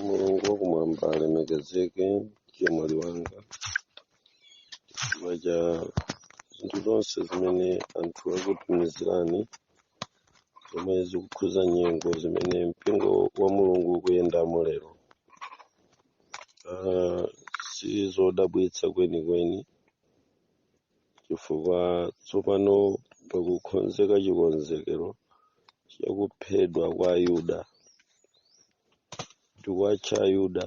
mulungu wakumwamba alemekezeke chemwali wanga chifukwa cha zinthu zonse zimene anthu akutumizirani zomwe zikukhuza nyengo zimene mpingo wa mulungu ukuyendamo lero Ah, si zodabwitsa kwenikweni chifukwa tsopano pakukonzeka chikonzekero chakuphedwa kwa ayuda tikuwatcha ayuda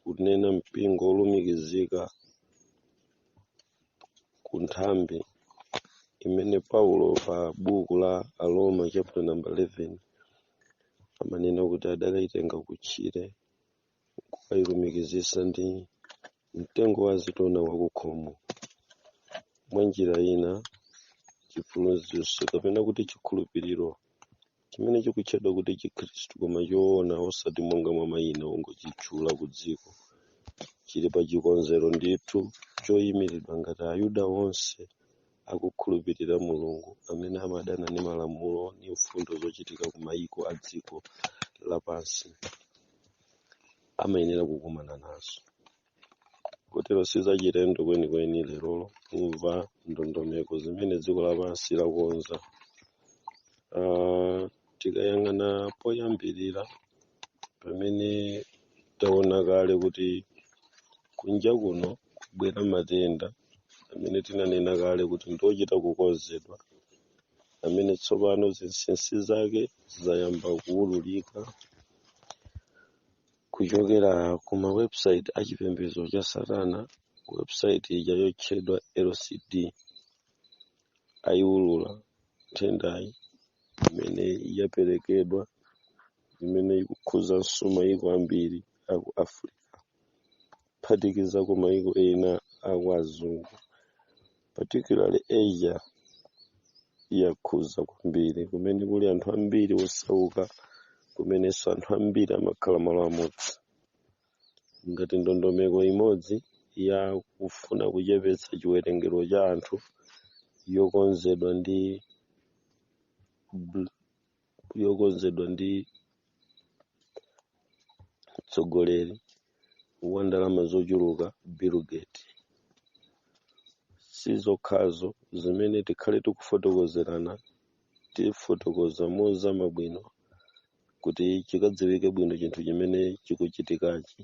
kunena mpingo wolumikizika ku nthambi imene paulo pa buku la aroma chapter number 11 amanena kuti adakaitenga kutchire kukailumikizitsa ndi mtengo wa azitona wakukhomo mwa njira ina chiphunzitso kapena kuti chikhulupiriro chimene chikutchedwa kuti chikhristu koma choona osati monga mwa mayina ongochitchula ku dziko chili pa chikonzero ndithu choyimiridwa ngati ayuda onse akukhulupirira mulungu amene amadana ndi malamulo ndi mfundo zochitika ku mayiko a dziko lapansi amayenera kukumana nazo kotero sizachilendo kwenikweni lerolo kumva ndondomeko zimene dziko lapansi lakonza Ah, tikayang'ana poyambirira pamene taona kale kuti kunja kuno kubwera matenda amene tinanena kale kuti ndiochita kukonzedwa amene tsopano zinsinsi zake zayamba kuwululika kuchokera ku mawebsite a chipembedzo cha satana website ija yotchedwa lcd ayiwulula nthendayi imene yaperekedwa imene ikukhuzanso mayiko ambiri aku africa kuphatikiza ku mayiko ena aku azungu particularly asia yakhuza kwambiri kumene kuli anthu ambiri osauka kumenenso anthu ambiri amakhala malo amodzi ngati ndondomeko imodzi ya kufuna kuchepetsa chiwerengero cha anthu yokonzedwa ndi bl- yokonzedwa ndi mtsogoleri wa ndalama zochuluka Bill Gates. Si zokhazo zimene tikhale tikufotokozerana tifotokoza mozama bwino kuti chikadziwike bwino chinthu chimene chikuchitikachi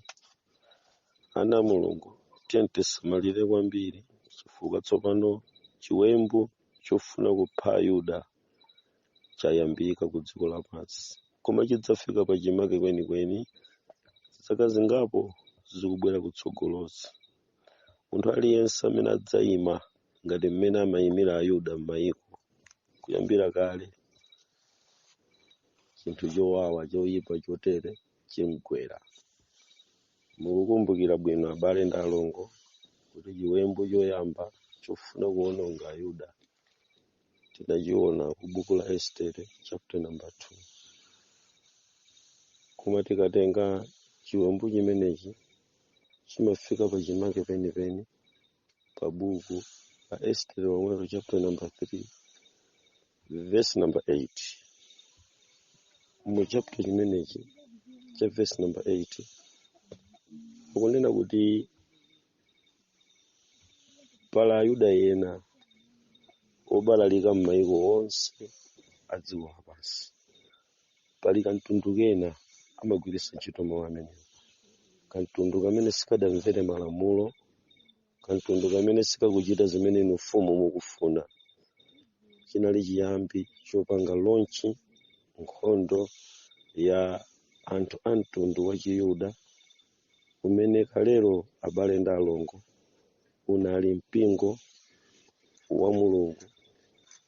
ana a mulungu tiyeni tisamalire kwambiri chifukwa tsopano chiwembu chofuna kupha ayuda chayambika ku dziko lapansi koma chidzafika pa chimake kwenikweni zaka zingapo zikubwera kutsogolozi munthu aliyense amene adzayima ngati mmene amayimira ayuda m'mayiko kuyambira kale chinthu chowawa choyipa chotere chimgwera mukukumbukira bwino abale ndi alongo kuti chiwembu choyamba chofuna kuwononga ayuda tinachiona ku buku la estere chapter number 2 koma tikatenga chiwembu chimenechi chimafika pa chimake penipeni pa buku la estere womwelo chapter number 3 verse number 8 mu chapter chimenechi cha verse number 8 akunena kuti pali ayuda ena obalalika m'mayiko onse a dziko lapansi pali kamtundu kena amagwiritsa ntchito mawu amenewa kamtundu kamene sikadamvere malamulo kamtundu kamene sikakuchita zimene inu mfumu mukufuna chinali chiyambi chopanga launch nkhondo ya anthu a mtundu wa chiyuda umene kalelo abale ndi alongo unali mpingo wa mulungu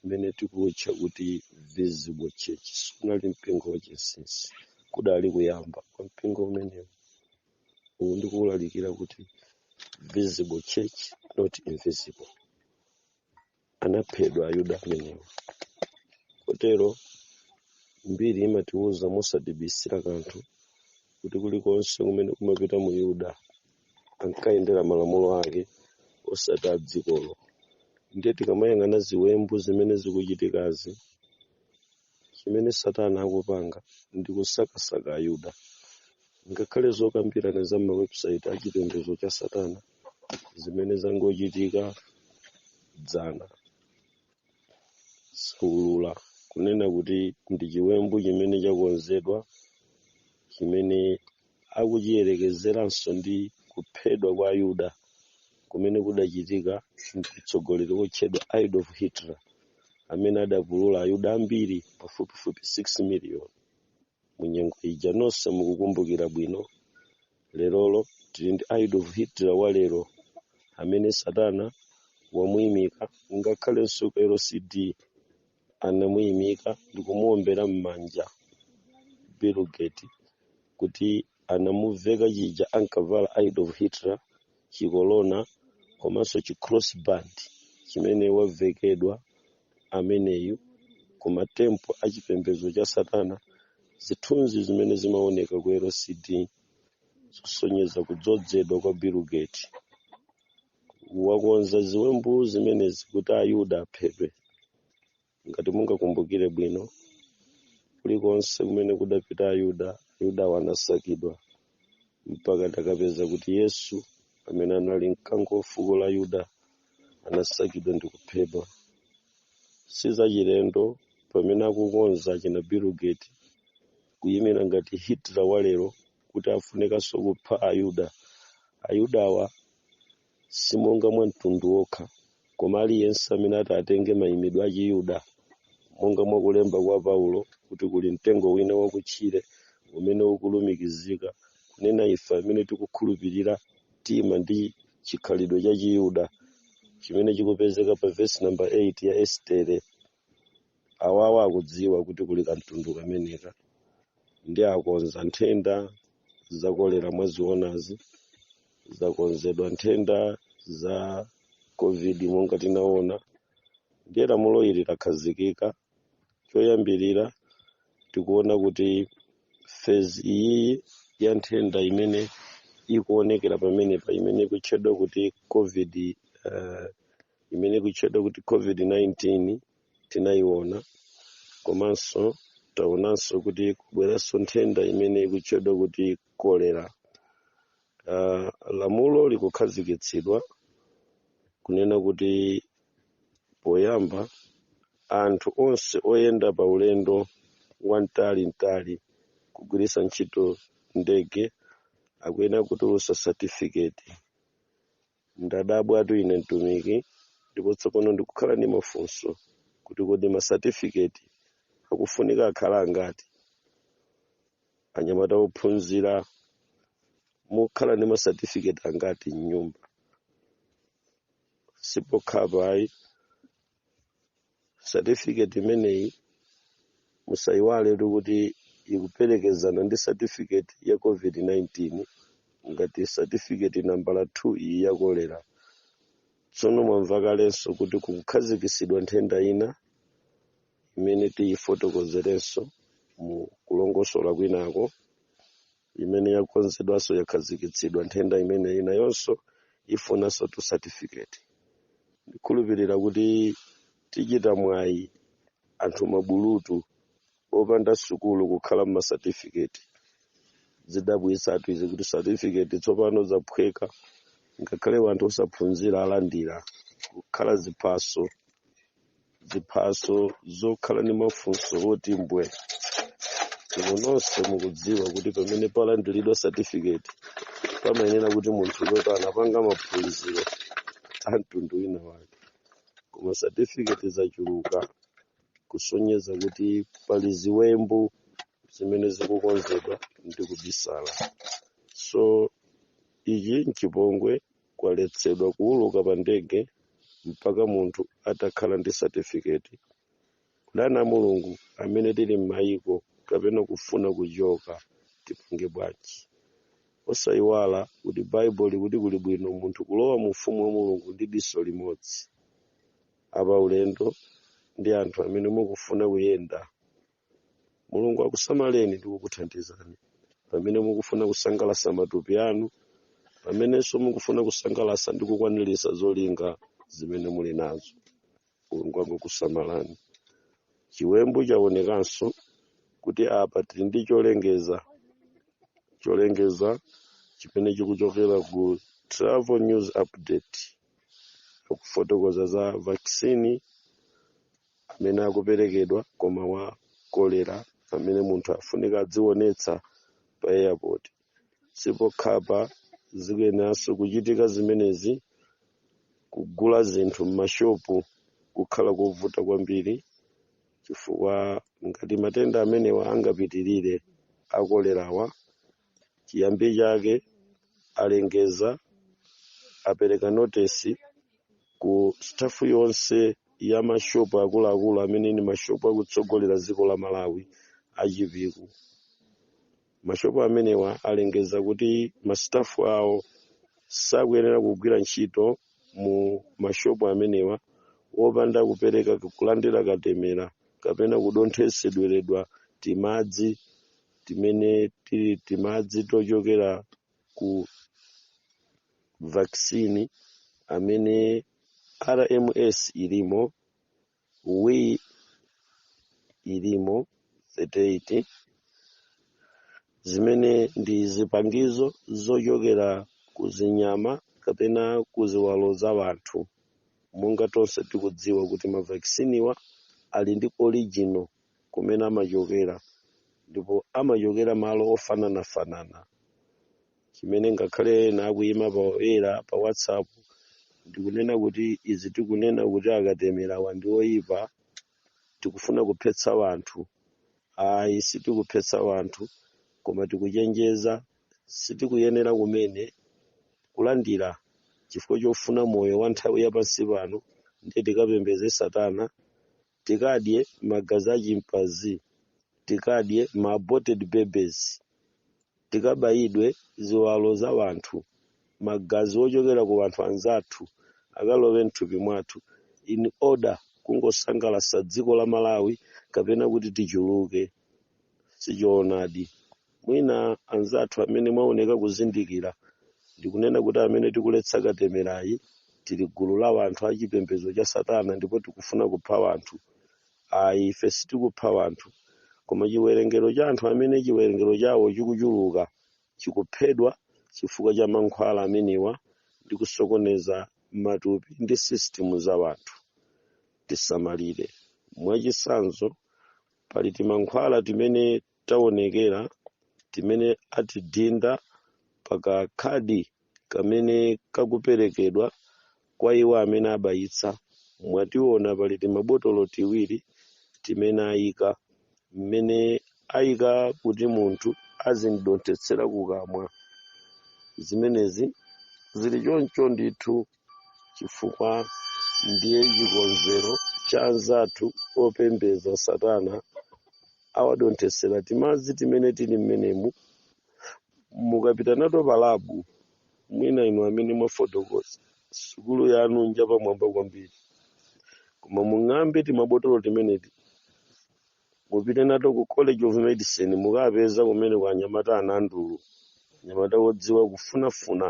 umene tikuutcha kuti visible church sunali mpingo wachinsinsi kudali kuyamba kwa mpingo umenewo uwu ndikuulalikira kuti visible church not invisible anaphedwa ayuda amenewo kotero mbiri imatiwuza mosatibisira kanthu kuti kulikonse kumene kumapita myuda ankayendera malamulo ake osati a dzikolo ndiye tikamayang'ana ziwembu zimene zikuchitikazi chimene satana akupanga ndi kusakasaka ayuda ngakhale zokambirana za mawebsite a chipembedzo cha satana zimene zangochitika dzana zaulula kunena kuti ndi chiwembu chimene chakonzedwa chimene akuchiyerekezeranso ndi kuphedwa kwa ayuda kumene kudachitika ndi mtsogoleri wotchedwa adolf hitler amene adapulula ayuda ambiri pafupifupi 6 miliyoni mu nyengo ija nonse mukukumbukira bwino lerolo tili ndi Adolf Hitler wa lero amene satana wamuyimika ngakhalenso ku lcd anamuyimika ndikumuwombera m'manja Bill Gates kuti anamuveka chija ankavala Adolf Hitler chikolona komanso chicrossband chimene wavekedwa ameneyu ku matempo a chipembedzo cha satana zithunzi zimene zimaoneka ku lcd zosonyeza kudzodzedwa kwa Bill Gates wakonza ziwembu zimenezi kuti ayuda aphedwe ngati mungakumbukire bwino kulikonse kumene kudapita ayuda ayudawo anasakidwa mpaka tikapeza kuti yesu amene anali mkango wa fuko la yuda anasakidwa ndi kuphedwa si zachilendo pamene akukonza achina Bill Gates kuyimira ngati hitler walero kuti afunekanso kupha ayuda ayudawa si monga mwa mtundu wokha koma aliyense amene ati atenge mayimidwe a chiyuda monga mwa kulemba kwa paulo kuti kuli mtengo wina wakutchire umene ukulumikizika kunena ife amene tikukhulupirira tima ndi chikhalidwe cha chiyuda chimene chikupezeka pa vesi namba 8 ya estere awawa akudziwa kuti kuli kamtundu kameneka ndiye akonza nthenda za kolera mwazionazi zakonzedwa nthenda za covid monga tinaona ndiye lamulo ili lakhazikika choyambirira tikuona kuti phase iyi ya nthenda imene ikuonekera pamenepa imene ikutchedwa kuti covid uh, imene ikutchedwa kuti covid-19 tinayiona komanso taonanso kuti kubweranso nthenda imene ikutchedwa kuti kolera uh, lamulo likukhazikitsidwa kunena kuti poyamba anthu onse oyenda pa ulendo wamtali mtali kugwiritsa ntchito ndege akuyena kutulutsa satifiketi ndadabwatu ine mtumiki ndipo tsopano ndikukhala ndi mafunso kuti kodi masatifiketi akufunika akhala angati anyamata ophunzira mukhala ndi masatifiketi angati mnyumba sipokhapa ayi certificate imeneyi musayiwale kuti ikuperekezana ndi certificate ya covid-19 ngati certificate nambala 2 iyi ya kolera tsono mwamva kalenso kuti kukukhazikitsidwa nthenda ina imene tiyifotokozerenso mu kulongosola kwinako imene yakonzedwanso yakhazikitsidwa nthenda imene nayonso ifunanso tu certificate ndikhulupirira kuti tichita mwayi anthu mabulutu opanda sukulu kukhala ndi ma certificate zidabwitsatu izi kuti certificate tsopano zaphweka ngakhale wanthu osaphunzira alandira kukhala ziphaso ziphaso zokhala ndi mafunso oti mbwe inu nonse mukudziwa kuti pamene palandiridwa satifiketi pamayenera kuti munthu woti anapanga maphunziro a mtundu wina wake koma satifiketi zachuluka kusonyeza kuti pali ziwembu zimene zikukonzedwa ndi kubisala so ichi nchipongwe kwaletsedwa kuuluka pa ndege mpaka munthu atakhala ndi satifiketi ndi ana a mulungu amene tili m'mayiko kapena kufuna kuchoka tipange bwanji osayiwala kuti baibulo likuti kuli bwino munthu kulowa mu ufumu wa mulungu ndi diso limodzi apa ulendo ndi anthu amene mukufuna kuyenda mulungu akusamaleni ndi kukuthandizani pamene mukufuna kusangalatsa matupi anu pamenenso mukufuna kusangalatsa ndi kukwaniritsa zolinga zimene muli nazo mulungu akusamalani chiwembu chaonekanso kuti apa tili ndi cholengeza cholengeza chimene chikuchokera ku travel news update akufotokoza za vaccine amene akuperekedwa koma wa kolera amene munthu afunika adzionetsa pa airport si pokhapa zikuyeneranso kuchitika zimenezi kugula zinthu m'mashopu kukhala kovuta kwambiri chifukwa ngati matenda amenewa angapitirire a kolerawa chiyambi chake alengeza apereka notisi ku stafu yonse ya mashopu akuluakulu amene ni mashopu akutsogolera dziko la malawi a chipiku mashopu amenewa alengeza kuti mastafu awo sakuyenera kugwira ntchito mu mashopu amenewa wopanda kupereka kulandira katemera kapena kudonthetsedweredwa timadzi timene tili timadzi tochokera ku vaccine amene rms ilimo wi ilimo 38 zimene ndi zipangizo zochokera ku zinyama kapena ku ziwalo za wanthu monga tonse tikudziwa kuti mavakisiniwa ali ndi original kumene amachokera ndipo amachokera malo ofananafanana chimene ngakhale ena akuyima poyera pa whatsapp ndikunena kuti izi tikunena kuti akatemerawa ndi oyipa tikufuna kuphetsa wanthu ayi sitikuphetsa wanthu koma tikuchenjeza sitikuyenera kumene kulandira chifukwa chofuna moyo wa nthawi ya pansi pano ndiye tikapembeze satana tikadye magazi a chimpazi tikadye ma aborted babies tikabayidwe ziwalo za wanthu magazi ochokera ku wanthu anzathu akalowe mthupi mwathu in order kungosangalasa dziko la malawi kapena kuti tichuluke sichoonadi mwina anzathu amene mwaoneka kuzindikira ndikunena kuti amene tikuletsa katemerayi tili gulu la wanthu a chipembedzo cha satana ndipo tikufuna kupha wanthu ayi ife sitikupha wanthu koma chiwerengero cha anthu amene chiwerengero chawo chikuchuluka chikuphedwa chifukwa cha mankhwala amenewa ndi kusokoneza matupi ndi system za wanthu tisamalire mwachisanzo pali timankhwala timene taonekera timene atidinda pa kakhadi kamene kakuperekedwa kwa iwo amene abayitsa mwationa pali timabotolo tiwiri timene ayika mmene ayika kuti munthu azimdonthetsera kukamwa zimenezi zili choncho ndithu chifukwa ndiye chikonzero cha anzathu opembedza satana awadonthetsera timadzi timene tili mmenemu mukapita nato palabu mwina inu amene mwafotokoza sukulu yanu njapamwamba kwambiri koma mung'ambe timabotolo timeneti mupite nato ku college of medicine mukapeza kumene kwa anyamata anandulu anyamata odziwa kufunafuna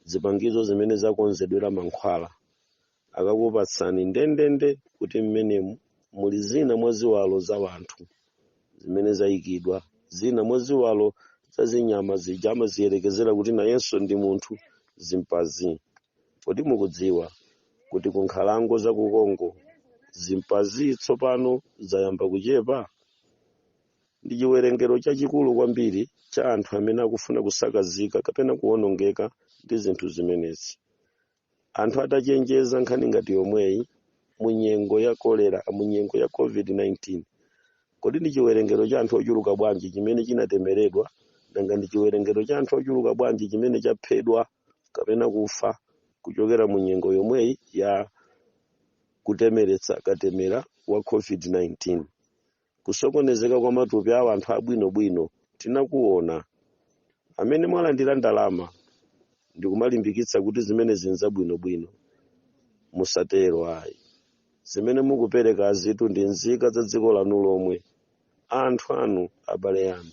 zipangizo zimene zakonzedwera mankhwala akakupatsani ndendende kuti mmenemu muli zina mwa ziwalo za wanthu zimene zayikidwa zina mwa ziwalo za zinyama zija amaziyerekezera kuti nayenso ndi munthu zimpazi kodi mukudziwa kuti ku nkhalango za ku congo zimpazi tsopano zayamba kuchepa ndi chiwerengero chachikulu kwambiri cha anthu amene akufuna kusakazika kapena kuwonongeka ndi zinthu zimenezi anthu atachenjeza nkhani ngati yomweyi mu nyengo ya kolera mu nyengo ya covid-19 kodi ndi chiwerengero cha anthu ochuluka bwanji chimene chinatemeredwa nanga ndi chiwerengero cha anthu ochuluka bwanji chimene chaphedwa kapena kufa kuchokera mu nyengo yomweyi ya kutemeretsa katemera wa covid-19 kusokonezeka kwa matupi a anthu abwinobwino tinakuona amene mwalandira ndalama ndikumalimbikitsa kuti zimenezi n'zabwinobwino musatero ayi zimene mukuperekazitu ndi nzika za dziko lanu lomwe anthu anu abale anu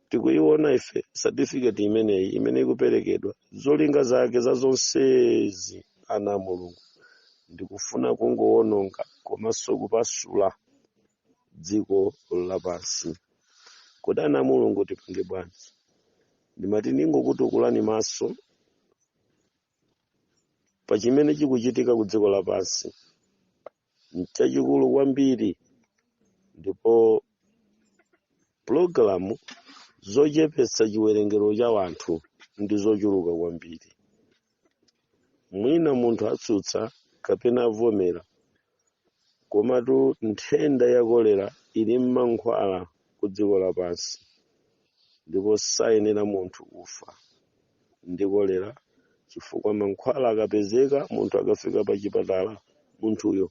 tikuyiona ife certificate imeneyi imene ikuperekedwa zolinga zake za zonsezi ana a mulungu ndikufuna kungowononga komanso kupasula dziko lapansi kodi ana a mulungu tipange bwanji ndimati ndingokutukulani maso pa chimene chikuchitika ku dziko lapansi n'chachikulu kwambiri ndipo pulogalamu zochepetsa chiwerengero cha wanthu ndi zochuluka kwambiri mwina munthu atsutsa kapena avomera komatu nthenda ya kolera ili m'mankhwala ku dziko lapansi ndipo sayenera munthu kufa ndi kolera chifukwa mankhwala akapezeka munthu akafika pa chipatala munthuyo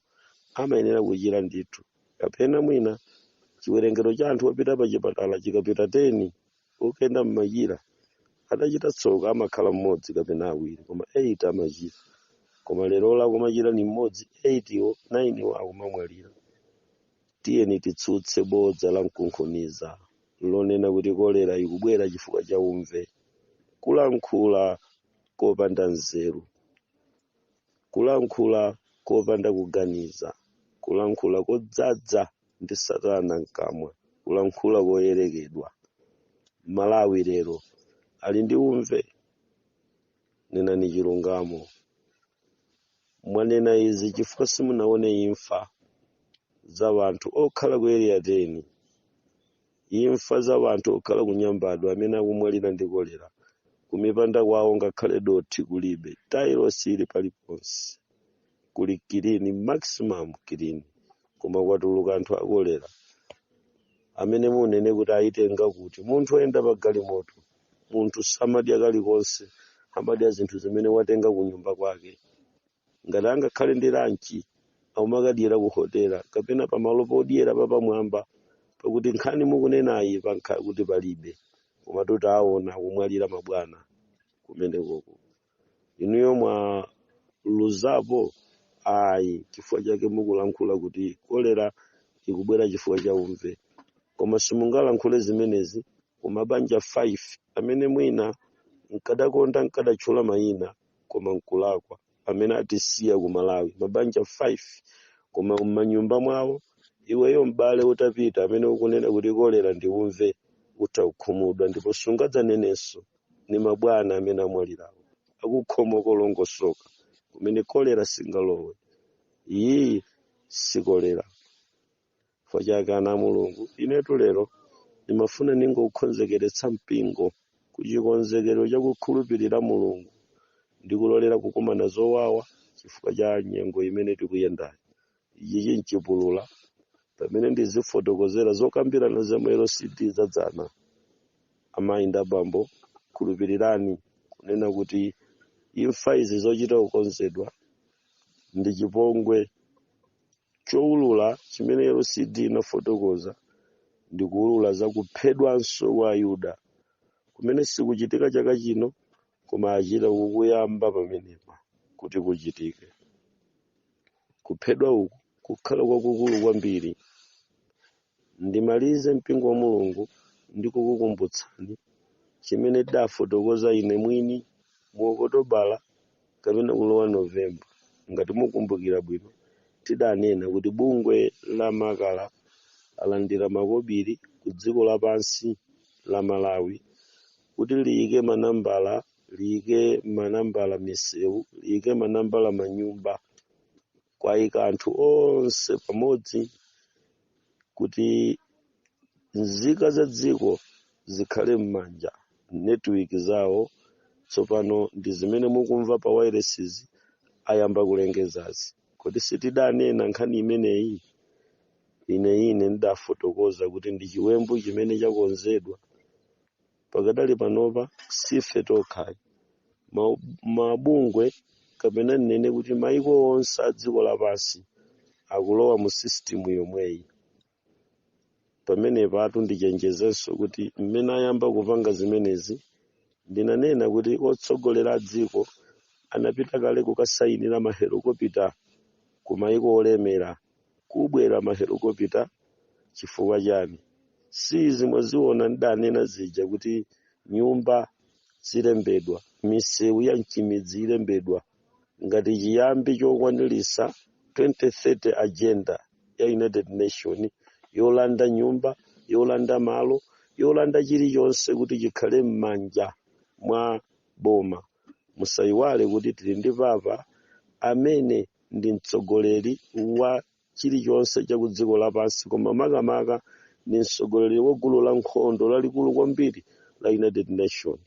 amayenera kuchira ndithu kapena mwina chiwerengero cha anthu opita pa chipatala chikapita 10 okenda mmachira atachita tsoka amakhala mmodzi kapena awiri koma 8 amachira koma lero akumachira ni mmodzi 8 wo 9 wo akumamwalira tiyeni titsutse bodza la mkunkhuniza lonena kuti kolera ikubwera chifukwa cha umve kulankhula kopanda nzeru kulankhula kopanda kuganiza kulankhula kodzadza ndi satana mkamwa kulankhula koyerekedwa malawi lero ali ndi umve nenani chilungamo mwanena izi chifukwa simunaone imfa za wanthu okhala ku area 10 imfa za wanthu okhala ku nyambadwe amene akumwalira ndi kolera kumipanda kwawo ngakhale dothi kulibe tailosi ili paliponse kuli clean maximum clean koma kwatuluka anthu akolera amene munene kuti ayitenga kuti munthu oyenda pa galimoto munthu samadya kalikonse amadya zinthu zimene watenga ku nyumba kwake ngati angakhale ndi lanchi akumakadyera ku hotela kapena pamalo podyera papamwamba pakuti nkhani mukunenayi pankhala kuti palibe koma kuti aona akumwalira mabwana kumenekoko inuyo mwaluzapo ayi chifukwa chake mukulankhula kuti kolera ikubwera chifukwa cha umve koma simungalankhule zimenezi ku mabanja 5 amene mwina nkadakonda nkadatchula mayina koma nkulakwa amene atisiya ku malawi mabanja 5 koma m'manyumba mwawo iweyo m'bale utapita amene ukunena kuti kolera ndi umve utha kukhumudwa ndipo sungadzanenenso ni mabwana amene amwalirawo akukhomo kolongosoka kumene kolera singalowe iyi sikolera chifukwa chake ana a mulungu inetu lero ndimafuna ningokonzekeretsa mpingo ku chikonzekero cha kukhulupirira mulungu ndi kulolera kukumana zowawa chifukwa cha nyengo imene tikuyendayo ichichi nchipulula pamene ndizifotokozera zokambirana za mu lcd za dzana amayi ndi abambo khulupirirani kunena kuti imfa izi zochita kukonzedwa ndi chipongwe choulula chimene lcd inafotokoza ndi kuulula za kuphedwanso kwa ayuda kumene sikuchitika chaka chino koma achita kukuyamba pamenepa kuti kuchitike kuphedwa uku kukhala kwakukulu kwambiri ndimalize mpingo wa mulungu ndi kukukumbutsani chimene ndidafotokoza ine mwini mu okotobala kapena kulowa novemba ngati mukumbukira bwino tidanena kuti bungwe la makala alandira makobiri ku dziko lapansi la malawi kuti liyike manambala liyike manambala misewu liyike manambala manyumba kuwayika anthu onse pamodzi kuti nzika za dziko zikhale m'manetiwiki zawo tsopano ndi zimene mukumva pa wairesizi ayamba kulengezazi kodi sitidanena nkhani imeneyi ine ine ndidafotokoza kuti ndi chiwembu chimene chakonzedwa pakadali panopa sife tokhayi mabungwe kapena nnene kuti maiko onse a dziko lapansi akulowa mu sisitimu yomweyi pamenepatu ndichenjezenso kuti mmene ayamba kupanga zimenezi ndinanena kuti otsogolera a dziko anapita kale kukasayinira mahelokopita ku maiko olemera kubwera mahelikopita chifukwa chani si izi mwaziona ndidanena zija kuti nyumba zilembedwa misewu ya mchimidzi ilembedwa ngati chiyambi chokwanilisa 2030 agenda ya united nations yolanda nyumba yolanda malo yolanda chilichonse kuti chikhale m'manja mwa boma musayiwale kuti tili ndi papa amene ndi mtsogoleri wa chilichonse cha ku dziko lapansi koma makamaka ndi mtsogoleri wa gulu la nkhondo lalikulu kwambiri la united nations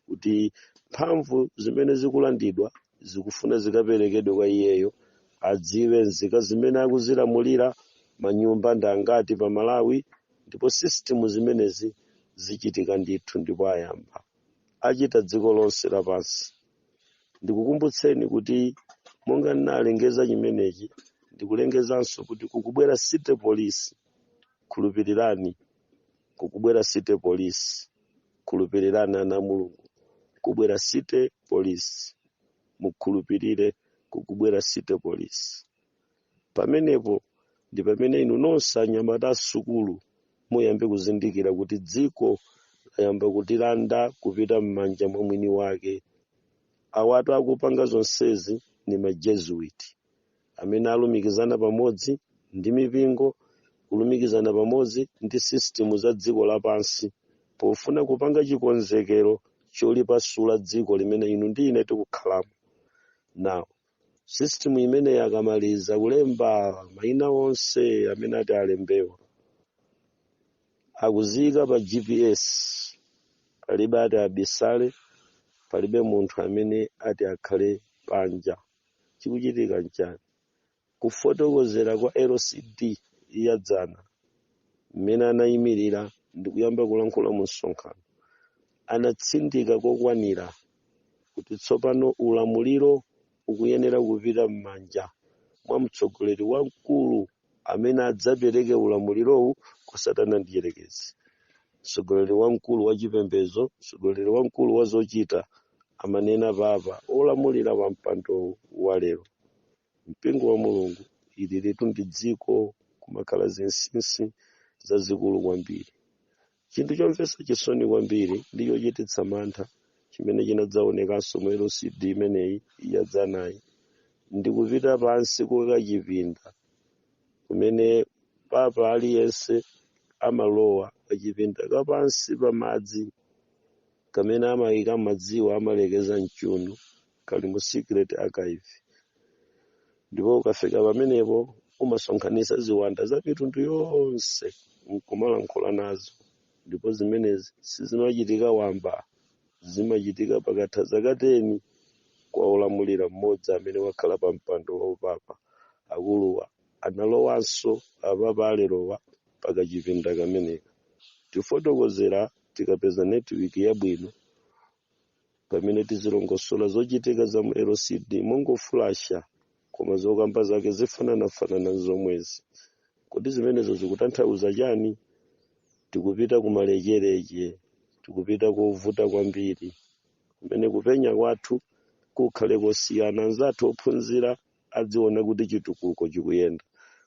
kuti mphamvu zimene zikulandidwa zikufuna zikaperekedwe kwa iyeyo adziwe nzika zimene akuzilamulira manyumba ndi angati pa malawi ndipo system zimenezi zichitika ndithu ndipo ayamba achita dziko lonse lapansi ndikukumbutseni kuti monga ndinalengeza chimenechi ndikulengezanso kuti kukubwera city police khulupirirani kukubwera city police khulupirirani ana mulungu kubwera city police mukhulupirire kukubwera city police Pamenepo ndi pamene inu nonse anyamata a sukulu muyambe kuzindikira kuti dziko layamba kutilanda kupita m'manja mwa mwini wake. Awatu akupanga zonsezi ndi ma Jesuit amene alumikizana pamodzi ndi mipingo kulumikizana pamodzi ndi system za dziko lapansi pofuna kupanga chikonzekero cholipasula dziko limene inu ndi ine tikukhalamo. Now, system imeneyi akamaliza kulemba maina onse amene ati alembewa akuziyika pa gps palibe ati abisale palibe munthu amene ati akhale panja chikuchitika nchani kufotokozera kwa lcd ya dzana mmene anayimirira ndikuyamba kulankhula mu msonkhano anatsindika kokwanira kuti tsopano ulamuliro ukuyenera kupita m'manja mwa mtsogoleri wamkulu amene adzapereke ulamulirowu kwa Satana Mdyerekezi. Mtsogoleri wamkulu wa chipembedzo, mtsogoleri wamkulu wa zochita, amanena papa wolamulira pa mpando wa lero. Mpingo wa Mulungu, ililitu ndi dziko, kumakhala zinsinsi zazikulu kwambiri. Chinthu chomvetsa chisoni kwambiri ndi chochititsa mantha chimene chinadzaonekanso mu LCD imeneyi yadzanayi ndi kupita pansi ku kachipinda kumene papa aliyense amalowa kachipinda kapansi pa madzi kamene amayika madziwo amalekeza m'chiuno kali mu secret archive ndipo ukafika pamenepo umasonkhanitsa ziwanda za mitundu yonse nkumalankhula nazo ndipo zimenezi sizimachitika wamba zimachitika pakatha zaka teni kwa olamulira mmodzi amene wakhala pa mpando wa upapa akuluwa analowanso apapa alerowa pa kachipinda kameneka tifotokozera tikapeza netiwiki yabwino pamene tizilongosola zochitika za mu lcd mongofulasha koma zokamba zake zifananafanana ndi zomwezi kodi zimenezo zikutanthauza chani tikupita kumalechereche tikupita kovuta kwambiri kumene kupenya kwathu kukhale kosiyana anzathu ophunzira adziona kuti chitukuko chikuyenda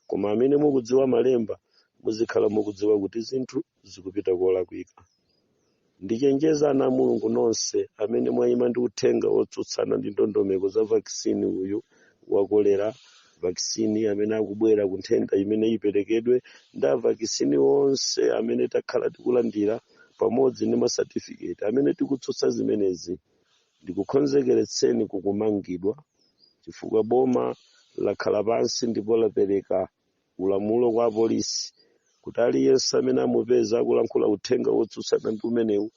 koma amene mukudziwa malemba muzikhala mukudziwa kuti zinthu zikupita kolakwika ndichenjeza ana a mulungu nonse amene mwayima ndi uthenga wotsutsana ndi ndondomeko za vakisini uyu wa kolera vakisini amene akubwera ku nthenda imene iperekedwe ndi avakisini onse amene takhala tikulandira pamodzi ndi masatifiketi amene tikutsutsa zimenezi ndikukhonzekeretseni kukumangidwa chifukwa boma lakhala pansi ndipo lapereka ulamulo kwa apolisi kuti aliyense amene amupeza akulankhula uthenga wotsutsana ndi umenewu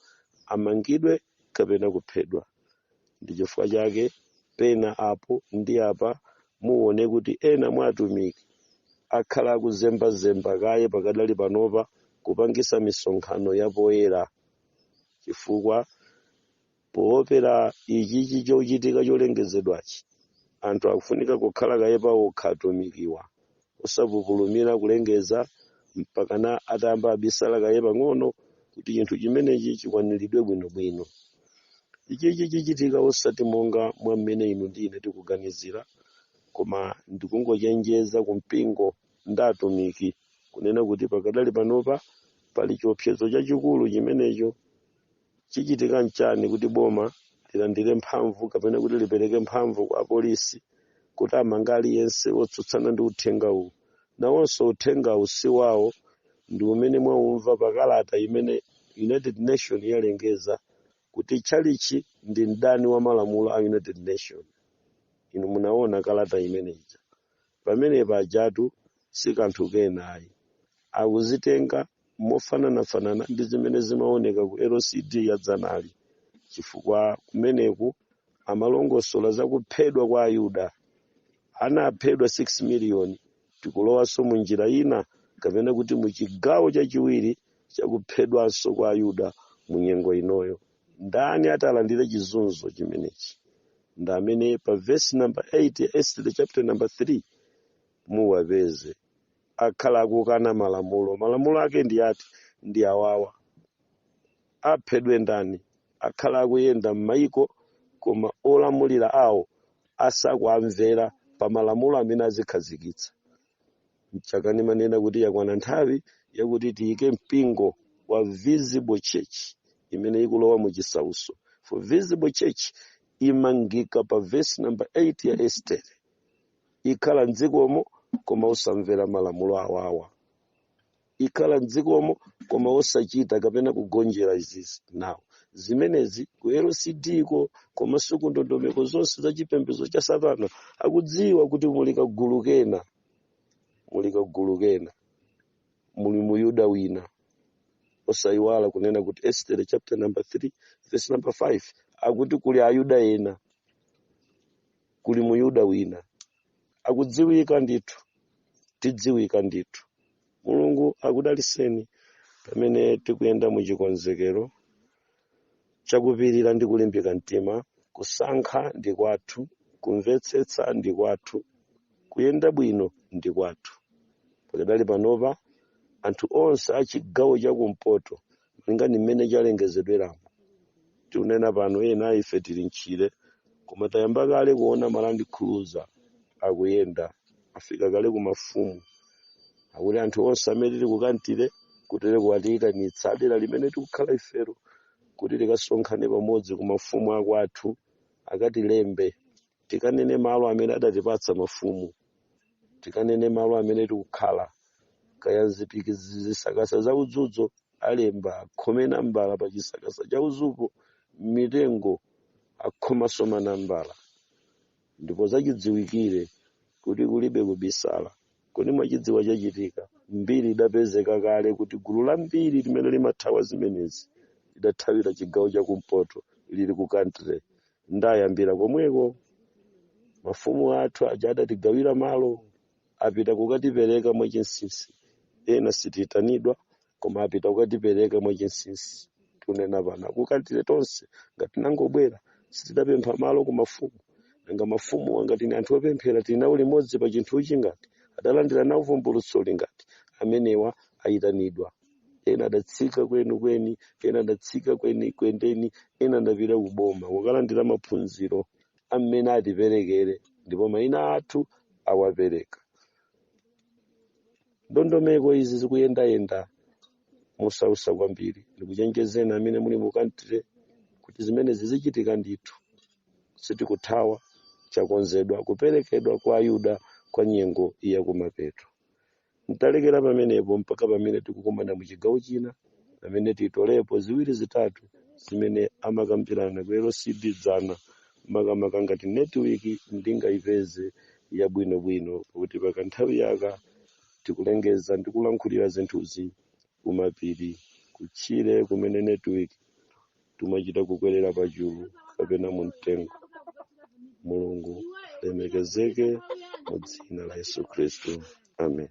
amangidwe kapena kuphedwa ndi chifukwa chake pena apo ndi apa muone kuti ena mwa atumiki akhala akuzembazemba kaye pakadali panopa kupangisa misonkhano yapoyera chifukwa Poopera ichichi chochitika cholengezedwachi, anthu akufunika kukhala kaye paokha atumikiwa, osapupulumira kulengeza mpakana atayamba abisala kaye pang'ono kuti chinthu chimenechi chikwaniridwe bwinobwino. Ichichi chichitika osati monga mwa mmene inu ndi ine tikuganizira, koma ndikungochenjeza ku mpingo ndi atumiki kunena kuti pakadali panopa pali chiopsezo chachikulu chimenecho. chichitika nchani kuti boma lilandire mphamvu kapena kuti lipereke mphamvu kwa apolisi kuti amanga aliyense wotsutsana ndi uthenga uwu nawonso uthenga uwu si wawo ndi umene mwaumva pa kalata imene united nation yalengeza kuti tchalitchi ndi mdani wa malamulo a united nation inu munaona kalata imene ija pamene pajatu si kanthu kena ayi akuzitenga mofananafanana ndi zimene zimaoneka ku LCD ya dzanali, chifukwa kumeneku amalongosola za kuphedwa kwa Ayuda. Anaphedwa 6 miliyoni. Tikulowanso mu njira ina, kapena kuti mu chigawo chachiwiri cha kuphedwanso kwa Ayuda mu nyengo inoyo. Ndani atalandire chizunzo chimenechi? Ndi amene pa vesi namba 8 ya Estere chapter namba 3 muwapeze. akhala akukana malamulo malamulo ake ndi ati ndi awawa aphedwe ndani akhala akuyenda m'mayiko koma olamulira awo asakuamvera pa malamulo amene azikhazikitsa mchake ndimanena kuti yakwana nthawi yakuti tiyike mpingo wa visible church imene ikulowa mu chisauso for visible church imangika pa verse number 8 ya estere ikhala m'dzikomo koma osamvera malamulo awawa ikhala m'dzikomo koma osachita kapena kugonjera izizi now zimenezi ku lcd ko komanso ku ndondomeko zonse za chipembedzo cha satana akudziwa kuti muli kagulu kena muli kagulu kena muli muyuda wina osayiwala kunena kuti estere chapter number 3 verse number 5 akuti kuli ayuda ena kuli muyuda wina akudziwika ndithu tidziwika ndithu mulungu akudaliseni pamene tikuyenda mu chikonzekero chakupirira ndi kulimbika mtima kusankha ndi kwathu kumvetsetsa ndi kwathu kuyenda bwino ndi kwathu pakadali panopa anthu onse a chigawo chakumpoto malinga ndi mmene chalengezedweramo tikunena pano ena ife tili mtchire koma tayamba kale kuona ma land cruiser akuyenda afika kale ku mafumu akuti anthu onse amene tili ku country kutere kuwatiyitanitsa a dera limene tikukhala ifero kuti tikasonkhane pamodzi ku mafumu akwathu akatilembe tikanene malo amene adatipatsa mafumu tikanene malo amene tikukhala kaya zipiki zisakasa za udzuzo alemba akhome nambala pa chisakasa cha udzupo m'mitengo akhomanso manambala ndipo zachidziwikire kuti kulibe kubisala kodi mwachidziwa chachitika mbiri idapezeka kale kuti gulu lambiri limene limathawa zimenezi lidathawira chigawo cha kumpoto lili ku country nde ayambira komweko mafumu athu aja adatigawira malo apita kukatipereka mwachinsinsi ena sitiitanidwa koma apita kukatipereka mwachinsinsi tunena pano ku country tonse ngati tinangobwera sitidapempha malo ku mafumu nanga mafumu angati ni anthu opemphera tili nawo limodzi pa chinthuchi ngati adalandira nawo vumbulutsoli ngati amenewa ayitanidwa ena adatsika kwenikweni ena adatsika kwenikweni ndeni ena adapita kuboma kukalandira maphunziro amene atiperekere ndipo mayina athu awapereka ndondomeko izi zikuyendayenda mosausa kwambiri ndikuchenjezeni amene muli mu Blantyre kuti zimene zizichitika ndithu sitikuthawa chakonzedwa kuperekedwa kwa ayuda kwa nyengo yakumapeto ntalekera pamenepo mpaka pamene tikukumana mu chigawo china pamene titolepo ziwiri zitatu zimene amakambirana ku lcd dzana makamaka ngati netiwiki ndingayipeze yabwinobwino pakuti pakanthawi aka tikulengeza ndi kulankhulira zinthuzi kumapiri kutchire kumene netiwiki tumachita kukwerera pa chulu kapena mu mtengo mulungu lemekezeke mu dzina la yesu khristu amen